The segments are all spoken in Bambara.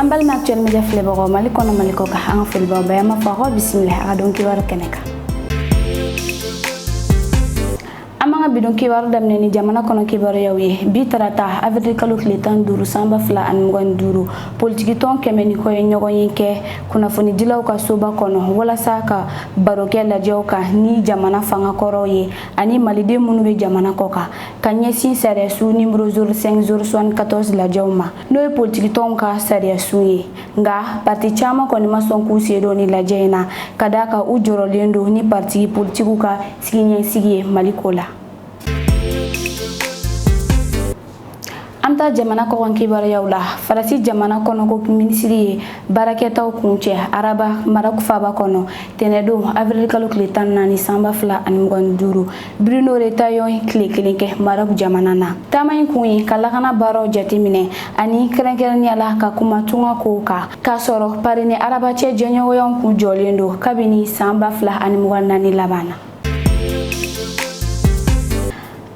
an balima actuel media filɛbagaw mali kɔnɔ mali kɔ kan an ka foli b'aw bɛɛ an b'a fɔ aw ka bisimila an ka don kibaru kɛnɛ kan an b'an ka bidon kibaru daminɛ ni jamana kɔnɔ kibaruyaw ye bi tarata avril kalo tile tan duuru san ba fila ani mugan ni duuru politikitɔn kɛmɛ ni kɔ ye ɲɔgɔnye kɛ kunnafonidilaw ka soba kɔnɔ walasa ka baro kɛ lajɛw kan ni jamana fanga kɔrɔw ye ani maliden minnu bɛ jamana kɔ kan ka ɲɛsin sariyasun nimoro 05 074 lajɛw ma n'o ye politikitɔnw ka sariyasun ye nka parti caman kɔni ma sɔn k'u sen don nin lajɛ in na ka d'a kan u jɔrɔlen don ni parti politikiw ka siniɲɛsigi ye mali ko la an bɛ taa jamana kɔkan kibaruyaw la faransi jamana kɔnɔko minisiri ye baarakɛtaw kuncɛ araba marɔk faaba kɔnɔ tɛnɛdon avril kalo tile tan naani san ba fila ani mugan duuru Bruno Retailleau ye tile kelen kɛ Maroc jamana na. Taama in kun ye ka lakana baaraw jateminɛ ani kɛrɛnkɛrɛnnenya la ka kuma tunga kow kan, k'a sɔrɔ Paris ni Araba cɛ jɛɲɔgɔnyaw kun jɔlen don kabini san 2024 laban na.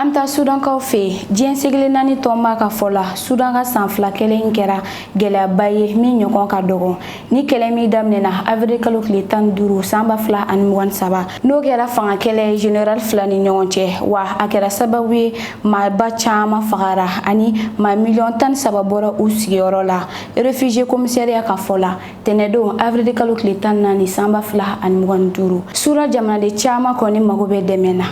An bɛ taa Sudankaw fɛ, diɲɛ seleke naani tɔnba ka fɔ la, Sudan ka san fila kɛlɛ in kɛra gɛlɛyaba ye min ɲɔgɔn ka dɔgɔ. nin kɛlɛ min daminɛna avril kalo tile tan ni duuru san ba fila ani mugan ni saba n'o kɛra fanga kɛlɛ ye general fila ni ɲɔgɔn cɛ wa a kɛra sababu ye maa ba caman fagara ani maa miliyɔn tan ni saba bɔra u sigiyɔrɔ la refugie komisariya ka fɔ la tɛnɛdon avril kalo tile tan ni naani san ba fila ani mugan ni duuru sura jamanaden caman kɔni mago bɛ dɛmɛ na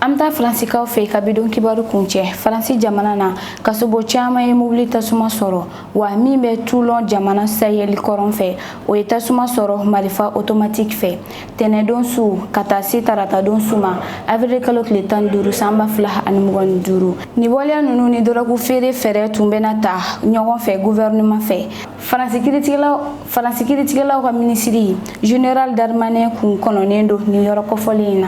an bɛ taa faransikaw fɛ ka bidon kibaru kuncɛ faransi jamana na kasobon caman ye mobili tasuma sɔrɔ wa min bɛ toulon jamana saheli kɔrɔn fɛ o ye tasuma sɔrɔ marifa otomatiki fɛ tɛnɛdon su ka taa se taratadon su ma avril kalo tile tan duuru san ba fila ani mugan ni duuru nin waleya ninnu ni dɔrɔgu feere fɛɛrɛ tun bɛna taa ɲɔgɔn fɛ guvɛrɛnɛman fɛ faransi kiiritigɛlaw ka minisiri general darmanin kun kɔnɔnen don nin yɔrɔ kɔfɔlen in na